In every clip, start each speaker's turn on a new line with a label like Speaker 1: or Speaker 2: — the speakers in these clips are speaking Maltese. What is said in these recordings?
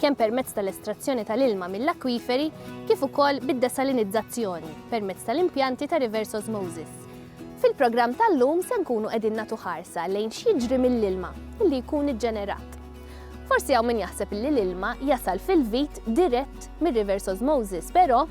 Speaker 1: kemm permezz tal-estrazzjoni tal-ilma mill-akwiferi kif ukoll bid-desalinizzazzjoni permezz tal-impjanti ta' reverse osmosis. Fil-programm tal-lum se nkunu qegħdin nagħtu ħarsa lejn x'jiġri mill-ilma li jkun iġġenerat. Forsi hawn min jaħseb li l-ilma jasal fil-vit dirett mir-reverse osmosis, però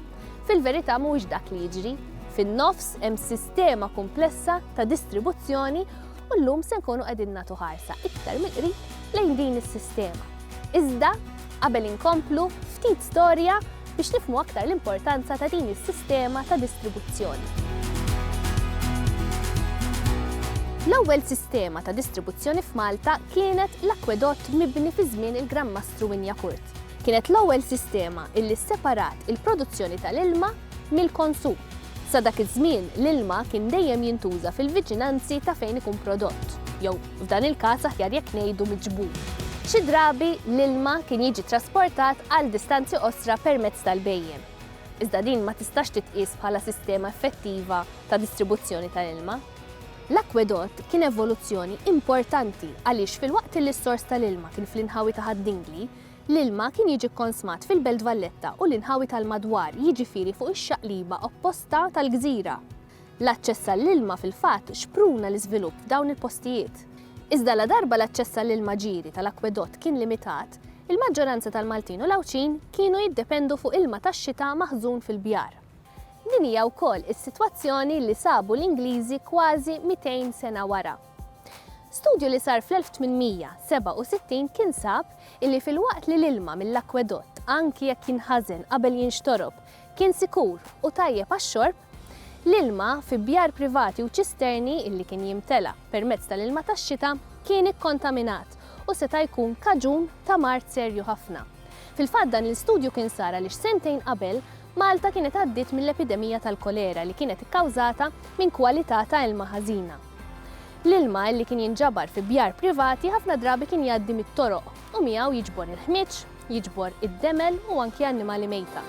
Speaker 1: fil-verità mhuwiex dak li jiġri. Fin-nofs hemm sistema kumplessa ta' distribuzzjoni u llum se nkunu qegħdin nagħtu ħarsa iktar mill-qrib lejn din is-sistema. Iżda, qabel inkomplu, ftit storja biex nifhmu aktar l-importanza ta' din is-sistema ta' distribuzzjoni. L-ewwel sistema ta' distribuzzjoni f'Malta kienet l-akwedott mibni fi żmien il-Gran Mastru Wynyacourt. Kienet l-ewwel sistema illi sseparat il-produzzjoni tal-ilma mill-konsum. Sa dak iż-żmien l-ilma kien dejjem jintuża fil-viċinanzi ta' fejn ikun prodott, jew f'dan il-każ aħjar jekk ngħidu miġbur. Xi drabi l-ilma kien jiġi trasportat għal distanzi qosra permezz tal-bhejjem. Iżda din ma tistax titqies bħala sistema effettiva ta' distribuzzjoni tal-ilma. L-akwedott kien evoluzzjoni importanti għaliex filwaqt li s-sors tal-ilma kien fl-inħawi ta' Ħad-Dingli, l-ilma kien jiġi kkonsmat fil-Belt Valletta u l-inħawi tal-madwar jiġifieri fuq ix-xaqliba opposta tal-gżira. L-aċċess għall-ilma fil-fatt xpruna l-iżvilupp f'dawn il-postijiet. Iżda ladarba l-aċċess għall-ilma ġieri tal-akkwedott kien limitat, il-maġġoranza tal-Maltin u l-Għawdxin kienu jiddependu fuq ilma tax-xita maħżun fil-bjar. Din hija wkoll is-sitwazzjoni li sabu l-Ingliżi kważi 200 sena wara. Studju li sar fl-1867 kien sab illi filwaqt li l-ilma mill-akkwedott anki jekk jinħażen qabel jinxtorob kien sikur u tajjeb għax-xorb, l-ilma fi bjar privati u ċisterni li kien jimtela permezz tal-ilma tax-xita kien ikkontaminat u seta' jkun kaġun ta' mard serju ħafna. Fil-fatt dan l-istudju kien sar għaliex sentejn qabel Malta kienet għaddiet mill-epidemija tal-kolera li kienet ikkawżata minn kwalità ta' ilma ħażina. L-ilma li kien jinġabar fi bjar privati ħafna drabi kien jgħaddi mit-toroq u miegħu jiġbor il-ħmieġ, Jiġbor id-demel u anki annimali mejta.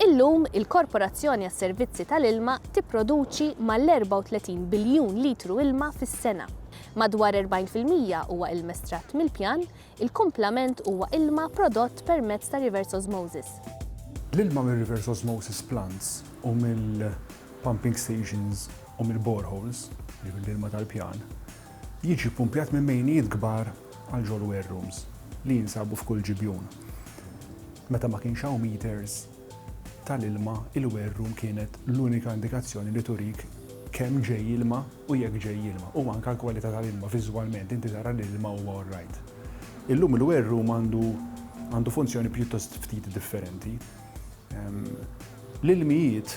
Speaker 1: Illum, il-Korporazzjoni għas-Servizzi tal-Ilma tipproduċi mal-34 biljun litru ilma fis-sena. Madwar 40 fil-mija huwa ilm estratt mill-pjan, il-kumplament huwa ilma prodott permezz ta' reverse osmosis. L-ilma
Speaker 2: mir-reverse osmosis plants u mill-pumping stations u mill-boreholes, jiġifieri l-ilma tal-pjan, jiġi ppumpjat minn mejnijiet kbar għal ġol-ware rooms li jinsabu f'kull ġibjun. Meta ma kienx hawn meters tal-ilma, il-ware room kienet l-unika indikazzjoni li turik kemm ġej ilma u jekk ġej ilma, u anke l-kwalità tal-ilma, viżwalment inti tara li l-ilma huwa all right. Illum il-ware room għandu għandu funzjoni pjuttost ftit differenti. L-ilmijiet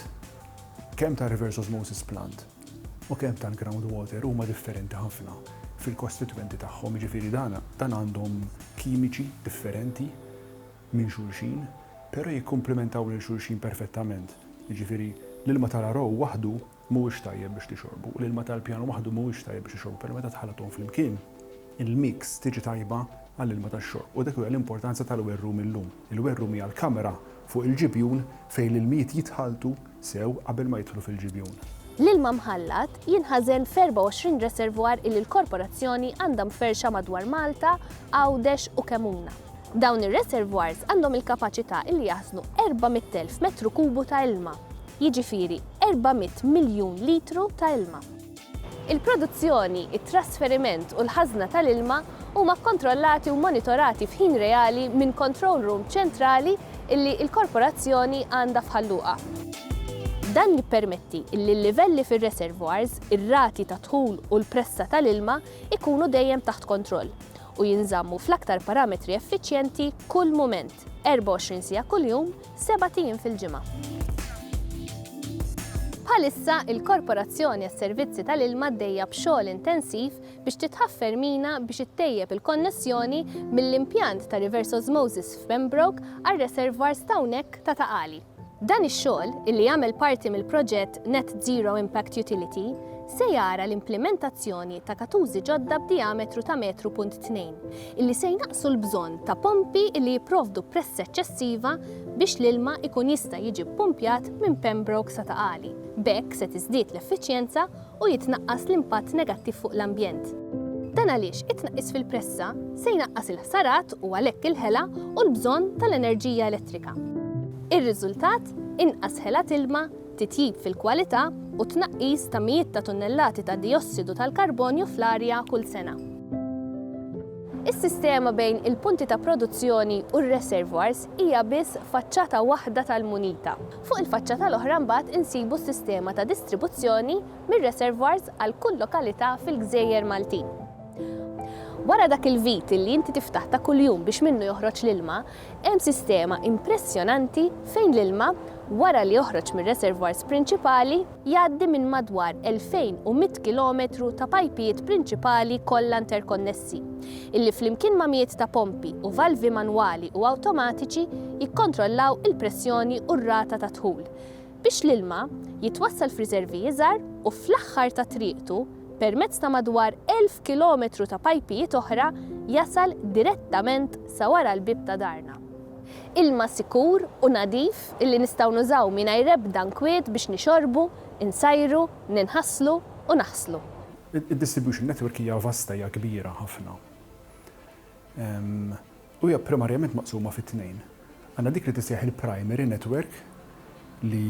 Speaker 2: kemm tar-reverse osmosis plant, u kemm tal-ground water huma differenti ħafna fil-kostitwenti tagħhom, jiġifieri dan għandhom kimiċi differenti minn xulxin, però jikkumplimentaw lil xulxin perfettament. Jiġifieri l-ilma tal-Arow waħdu mhuwiex tajjeb biex tixorbu u l-ilma tal-Pjan waħdu mhuwiex tajjeb biex tixorbu, però meta tħallthom flimkien, il-mix tiġi tajba għall-ilma tax-xorb u dak hija l-importanza tal-werrum illum. Il-werrum hija l-kamra fuq il-ġibjun fejn l-ilmijiet jitħalltu, sew qabel ma jidħlu fil-ġibjun. L-ilma mħallat
Speaker 1: jinħażen f'24 reservoir illi l-Korporazzjoni għandha mferrxa madwar Malta, Għawdex u Kemmuna. Dawn ir-reservoirs għandhom il-kapaċità illi jaħżnu 400,000 metru kubu ta' ilma, jiġifieri 400 miljun litru ta' ilma. Il-produzzjoni, it-trasferiment u l-ħażna tal-ilma huma kkontrollati u monitorati f'ħin reali minn control room ċentrali li l-Korporazzjoni għandha f'Ħal Luqa. Dan jippermetti li l-livelli fir-reservoirs, ir-rati ta' dħul u l-pressa tal-ilma jkunu dejjem taħt kontroll u jinżammu fl-aktar parametri effiċjenti kull mument, 24 siegħa kuljum, sebat ijiem fil-ġimgħa. Bħalissa, il-Korporazzjoni għas-Servizzi tal-Ilma għaddejja b'xogħol intensiv biex titħaffer mina biex ittejjeb il-konnessjoni mill-impjant ta' reverse osmosis f'Pembroke għar-reservoirs ta' hawnhekk ta' Ta' Qali. Dan ix-xogħol, illi jagħmel parti mill-proġett Net Zero Impact Utility, se jara l-implimentazzjoni ta' katużi ġodda b'dijametru ta' metru punt tnejn, illi se jnaqqsu l-bżonn ta' pompi illi jipprovdu pressa eċċessiva biex l-ilma jkun jista' jiġi ppumpjat minn Pembroke sa Ta' Qali. B'hekk se tiżdied l-effiċjenza u jitnaqqas l-impatt negattiv fuq l-ambjent. Dan għaliex it-tnaqqis fil-pressa se jnaqqas il-ħsarat u għalhekk il-ħela u l-bżonn tal-enerġija elettrika. Ir-riżultat, inqas ħela t'ilma, titjib fil-kwalità u t-tnaqqis ta' mijiet ta' tunnellati ta' dijossidu tal-karbonju fl-arja kull sena. Is-sistema bejn il-punti ta' produzzjoni u r-reservoirs hija biss faċċata waħda tal-munita. Fuq il-faċċata l-oħra mbagħad insibu s-sistema ta' distribuzzjoni mir-reservoirs għal kull lokalità fil-gżejjer Maltin. Wara dak il-vit li inti tiftaħ ta' kuljum biex minnu joħroġ l-ilma, Hemm sistema impressjonanti fejn l-ilma, wara li joħroġ mir-reservoirs prinċipali, jgħaddi minn madwar 2,100 kilometru ta' pajpijiet prinċipali kollha interkonnessi, illi flimkien ma' mijiet ta' pompi u valvi manwali u awtomatiċi jikkontrollaw il-pressjoni u r-rata tad-dħul, biex l-ilma jitwassal f'riservi iżgħar u fl-aħħar ta' triqtu, permezz ta' madwar 1,000 kilometru ta' pajpijiet oħra, jasal direttament sa wara l-bieb ta' darna. Ilma sikur u nadif illi nistgħu nużaw mingħajr ebda nkwiet biex nixorbu, insajru, ninħaslu u naħslu. Id-distribution
Speaker 2: network hija vasta, hija kbira ħafna. u hija primarjament maqsuma fi tnejn. Għandna dik li tissejjaħ il-primary network li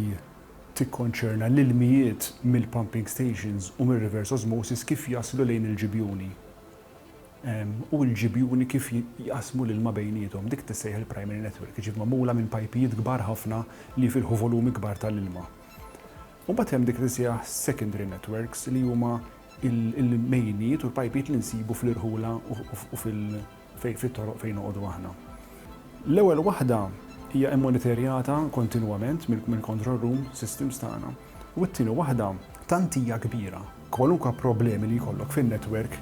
Speaker 2: tikkonċerna l-ilmijiet mill-pumping stations u mir-reverse osmosis kif jaslu lejn il-ġibjuni u l-ġibjuni kif jqassmu l-ilma bejniethom. Dik tissejjaħ il-primary network, jiġifieri magħmula minn pajpijiet kbar ħafna li jfilħu volumi kbar tal-ilma. U mbagħad hemm dik li tissejjaħ secondary networks li huma l-mejnijiet u l-pajpijiet li nsibu fl-irħula u fit-toroq fejn noqogħdu aħna. L-ewwel waħda hija immonitorjata kontinwament mill-control room systems tagħna u t-tieni waħda tant hija kbira. Kwalunkwe problemi li jkollok fin-network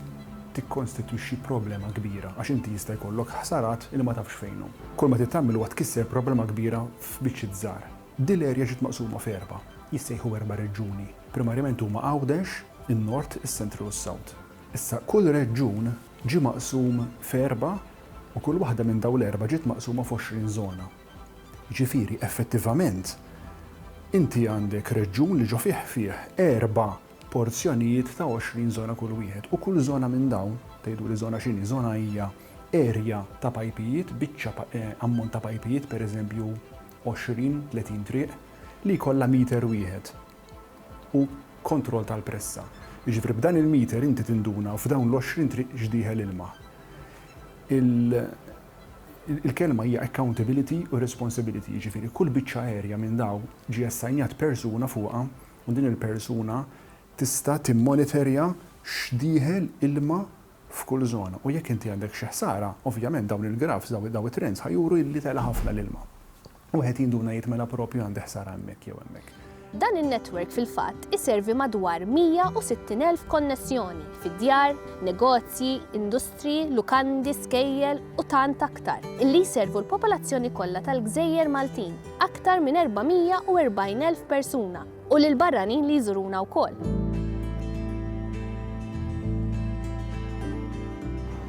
Speaker 2: tikkonstitwixxi problema kbira għax inti jista' jkollok ħsarat li ma tafx fejnhom. Kull ma trid tagħmel huwa tkisser problema kbira f'biċċiet żgħar. Din l-erja ġiet maqsuma f'erba', jissejħu erba' reġjuni. Primarjament huma Għawdex, in-Nord, is-Central u s-South. Issa, kull reġjun ġie maqsum f'erba' u kull waħda minn dawn l-erba' ġiet maqsuma f'għoxrin żona. Jiġifieri, effettivament, inti għandek reġjun li ġo fih fih erba' porzjonijiet ta' għoxrin żona kull wieħed u kull żona minn dawn, tgħiduli żona x'inhi, żona hija erja ta' pajpijiet, biċċa ammont ta' pajpijiet, pereżempju għoxrin, tletin triq, li jkollha meter wieħed. u kontroll tal-pressa. Jiġifieri b'dan il-meter inti tinduna u f'dawn l-għoxrin triq x'dieħel ilma. Il-kelma hija accountability u responsibility, jiġifieri kull biċċa aerja minn dawn ġie assign-jat persuna fuqha u din il-persuna tista' timmonitorja x'dieħel ilma f'kull żona u jekk inti għandek xi ħsara, ovvjament dawn il-grafs, dawn it-trends ħa juru li tela' ħafna l-ilma. Wieħed jinduna jgħid mela proprju għandi ħsara hemmhekk jew hemmhekk. Dan in-netwerk
Speaker 1: fil-fatt iservi madwar 160,000 konnessjoni fi djar, negozji, industriji, lukandi, skejjel u tant aktar, illi jservu l-popolazzjoni kollha tal-gżejjer Maltin, aktar minn 440,000 persuna. U lill-barranin li jżuruna wkoll.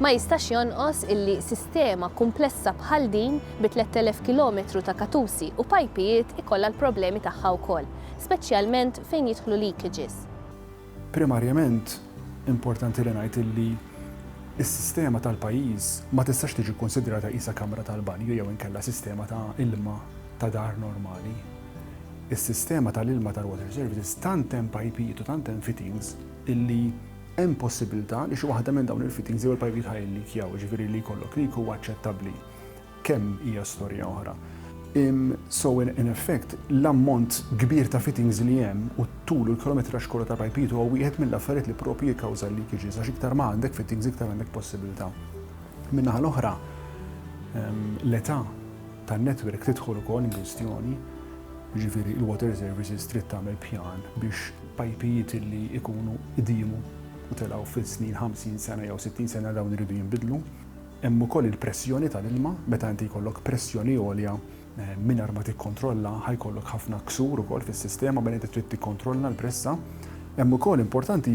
Speaker 1: Ma jistax jonqos illi sistema kumplessa bħal din bi 3,000 kilometru ta' katusi u pajpijiet ikollha l-problemi tagħha wkoll, speċjalment fejn jidħlu leakages.
Speaker 2: Primarjament, importanti li ngħid illi s-sistema tal-pajjiż ma tistax tiġi kkunsidrata qisha kamra tal-banju jew inkella sistema ta' ilma ta' dar normali. Is-sistema tal-ilma tal-Water Services tant hemm pajpijiet u tant hemm fittings illi hemm possibbiltà li xi waħda minn dawn il-fittings jew il-pajpijiet ħa jillikjaw, jiġifieri li jkollok leak huwa aċċettabbli. Kemm hija storja oħra. So in effect, l-ammont kbir ta' fittings li hemm u t-tul u l-kilometraġġ kollu ta' pajpijiet huwa wieħed mill-affarijiet li proprju jikkawża l-leakages għax iktar ma għandek fittings iktar għandek possibbiltà. Min-naħa l-oħra, l-età. tan-netwerk tidħol ukoll inkwistjoni, jiġifieri il-Water Services trid tagħmel pjan biex pajpijiet li jkunu qdimu u telgħu fis-snin 50 sena jew 60 sena dawn iridu jinbidlu. Hemm ukoll il-pressjoni tal-ilma, meta inti jkollok pressjoni għolja mingħajr ma tikkontrolla ħajkollok ħafna ksur ukoll fis-sistema mela inti trid tikkontrolla l-pressa. Hemm ukoll importanti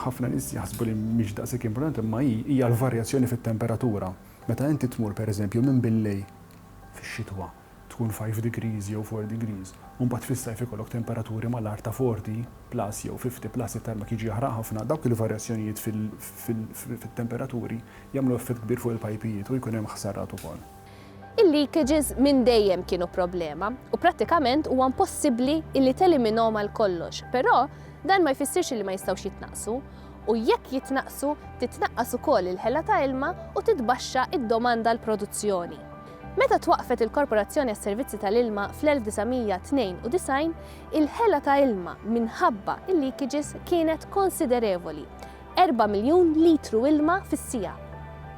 Speaker 2: ħafna nies jaħsbu li mhix daqshekk importanti imma hi hija l-varjazzjoni fit-temperatura. Meta inti tmur pereżempju minn billej fix-xitwa tkun five degrees jew four degrees u mbagħad fis-sajf ikollok temperaturi mal-agħar ta' forty plus jew fifty plus it-tarmak jiġi jaħraq ħafna, dawk il-varjazzjonijiet fit-temperaturi jagħmlu effett kbir fuq il-pajpijiet u jkun hemm ħsarat ukoll. Il-leakages
Speaker 1: minn dejjem kienu problema u prattikament huwa impossibbli illi teliminhom għal kollox, però dan ma jfissirx illi ma jistgħux jitnaqqsu. u jekk jitnaqqsu titnaqqas ukoll il-ħela ta' ilma u titbaxxa d-domanda għal produzzjoni. Meta twaqqfet il-Korporazzjoni għas-Servizzi tal-Ilma fl-1992, il-ħela ta' ilma minħabba l-leakages kienet konsiderevoli, erba' miljun litru ilma fis-siegħa.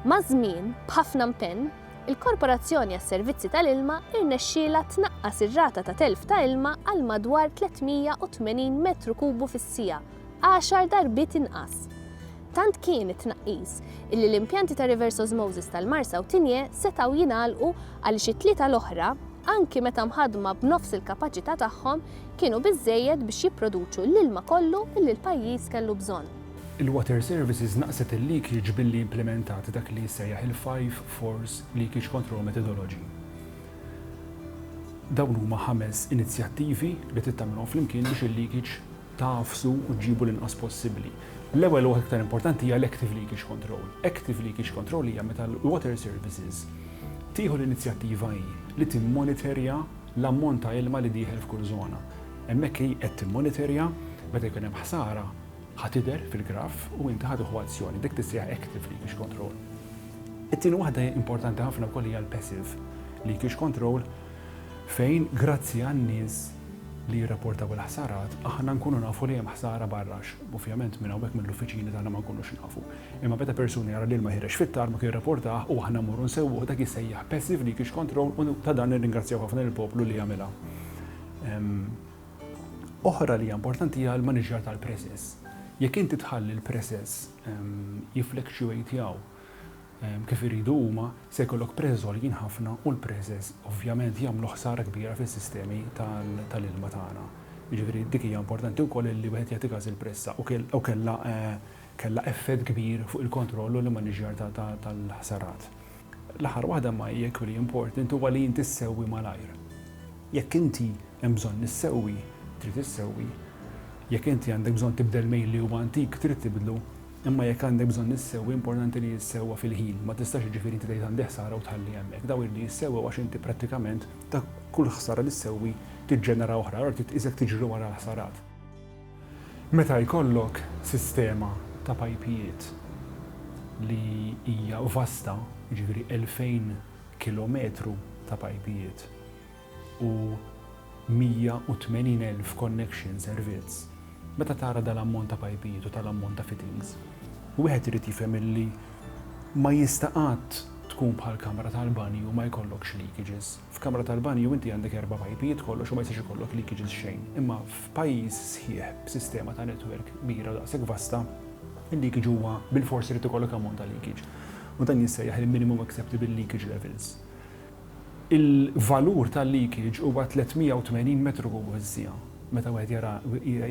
Speaker 1: Maż-żmien, b'ħafna mpenn, il-Korporazzjoni għas-Servizzi tal-Ilma rnexxielha tnaqqas ir-rata ta' telf ta' ilma għal madwar 380 metru kubu fis-siegħa, għaxar darbiet inqas. Tant kien it-tnaqqis illi l-impjanti ta' reverse osmosis tal-Marsa u Tinje setgħu jingħalqu għaliex it-tlieta l-oħra, anki meta mħaddma b'nofs il-kapaċità tagħhom, kienu biżżejjed biex jipproduċu l-ilma kollu illi l-pajjiż kellu bżonn. Il-Water
Speaker 2: Services naqqset il-leakage billi implimentat dak li jissejjaħ il-Five Fours Leakage Control Methodology. Dawn huma ħames inizjattivi li trid tagħmilhom flimkien biex il-leakage tagħfsu u ġġibu l-inqas possibbli. L-ewwel u waħda iktar importanti hija l-active leakage control. Active leakage control hija meta l-water services tieħu l-inizjattiva hi li timmoniterja l-ammont ta' ilma li dieħel f'kull żona. Hemmhekk hi qed timmoniterja, meta jkun hemm ħsara ħa tidher fil-graf u inti ħa tieħu azzjoni. Dik tissejjaħ active leakage control. It-tieni waħda importanti ħafna wkoll hija l-passive leakage control fejn grazzi għan-nies li jirrapportaw il-ħsarat aħna nkunu nafu li hemm ħsara barra għax ovvjament minn hawnhekk mill-uffiċini tagħna ma nkunux nafu. Imma meta persuna jara l-ilma jħereġ fit-tarmak jirrapportah u aħna mmorru nsewwuh dak jissejjaħ passive leakage control u ta' dan nirringrazzjaw ħafna lill-poplu li għamilha. Oħra li hija importanti hija l-maniġjar tal-presses. Jekk inti tħalli l-presses jifflexuatjaw, kif iridu huma, se jkollok preżes għoljin ħafna u l-preżes ovvjament jagħmlu ħsara kbira fis-sistemi tal-ilma tagħna. Jiġifieri dik hija importanti wkoll li wieħed jagħti każ il-pressa u u kellha kellha effett kbir fuq il-kontroll u l-immaniġġjar tal-ħsarat. L-aħħar waħda imma hija equally important huwa li inti ssewwi malajr. Jekk inti hemm bżonn issewwi, trid issewwi. Jekk inti għandek bżonn tibdel mejl li huwa antik, trid tibdlu. Imma jekk għandek bżonn issewwi, importanti li jissewwa fil-ħin. Ma tistax jiġifieri inti tgħid għandi ħsara u tħalli hemmhekk. Dawn iridu jissewwew għax inti prattikament ta' kull ħsara li ssewwi tiġġenera oħra, allura trid tqisek tiġri wara l-ħsarat. Meta jkollok sistema ta' pajpijiet li hija vasta, jiġifieri elfejn kilometru ta' pajpijiet, u 180,000 connection servizz, meta tara dal-ammont ta' pajpijiet u tal-ammont ta' fittings, wieħed irid jifhem illi ma jista' qatt tkun bħal kamra tal-banju ma jkollokx leakages. F'kamra tal-banju inti għandek erba' pajpijiet kollox u ma jistax ikollok leakages xejn. Imma f'pajjiż sħiħ b'sistema ta' network kbira u daqshekk vasta, il-leakage huwa bilfors irid ikollok ammont ta' leakage. U dan jissejjaħ il-minimum acceptable leakage levels. Il-valur tal-leakage huwa 380 metru kubu fis-siegħa. Meta wieħed jara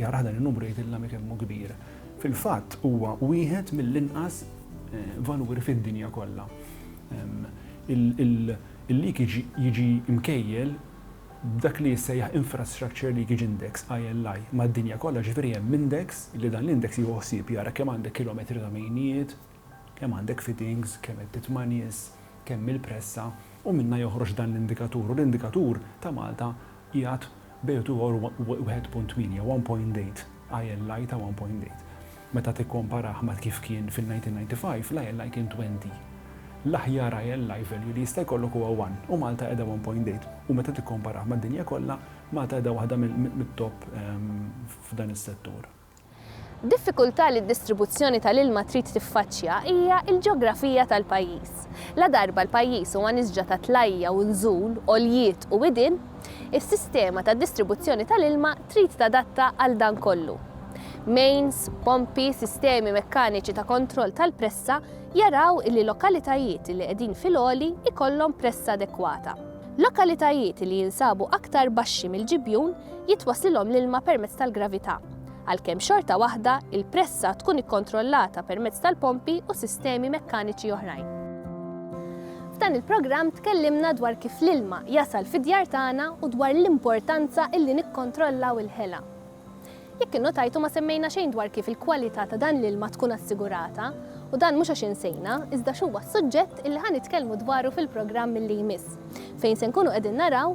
Speaker 2: jarah dan in-numru jgħidilna mhi kemm hu kbir. Fil-fatt huwa wieħed mill-inqas valuri fid-dinja kollha. Il-leakage jiġi mkejjel b'dak li jissejjaħ Infrastructure Leakage Index, ILI, mad-dinja kollha, jiġifieri hemm index li dan l-index jieħu ħsieb jara kemm għandek kilometri ta' mejnijiet, kemm għandek fittings, kemm qed titma' nies, kemm il-pressa, u minnha joħroġ dan l-indikatur, u l-indikatur ta' Malta qiegħed bejn u tiegħu u 1.8, 1.8, ILI ta' 1.8. Meta tikkomparah ma' kif kien fil-1995, l-ILI kien 20. L-aħjar ILI value li jista' jkollok huwa 1, u Malta qiegħda 1.8, u meta tikkomparah mad-dinja kollha, Malta qiegħda waħda mit-top f'dan is-settur. Diffikultà
Speaker 1: li d-distribuzzjoni tal-ilma trid tiffaċċja hija l-ġeografija tal-pajjiż. Ladarba l-pajjiż huwa nisġa ta' tlajja u nżul, għoljiet u widien, is-sistema ta' distribuzzjoni tal-ilma trid tadatta għal dan kollu. Mains, pompi, sistemi mekkaniċi ta' kontroll tal-pressa jaraw li lokalitajiet li qegħdin fil-għoli jkollhom pressa adekwata. Lokalitajiet li jinsabu aktar baxxi mill-ġibjun jitwasslilhom l-ilma permezz tal-gravità, għalkemm xorta waħda l-pressa tkun ikkontrollata permezz tal-pompi u sistemi mekkaniċi oħrajn. F'dan il-programm tkellimna dwar kif l-ilma jasal fid-djar tagħna u dwar l-importanza li nikkontrollaw il-ħela. Jekk innotajtu ma semmejna xejn dwar kif il-kwalità ta' dan l-ilma tkun assigurata, u dan mhux għax insejna, iżda x'huwa s-suġġett li ħa nitkellmu dwaru fil-programm li jmiss, fejn se nkunu qegħdin naraw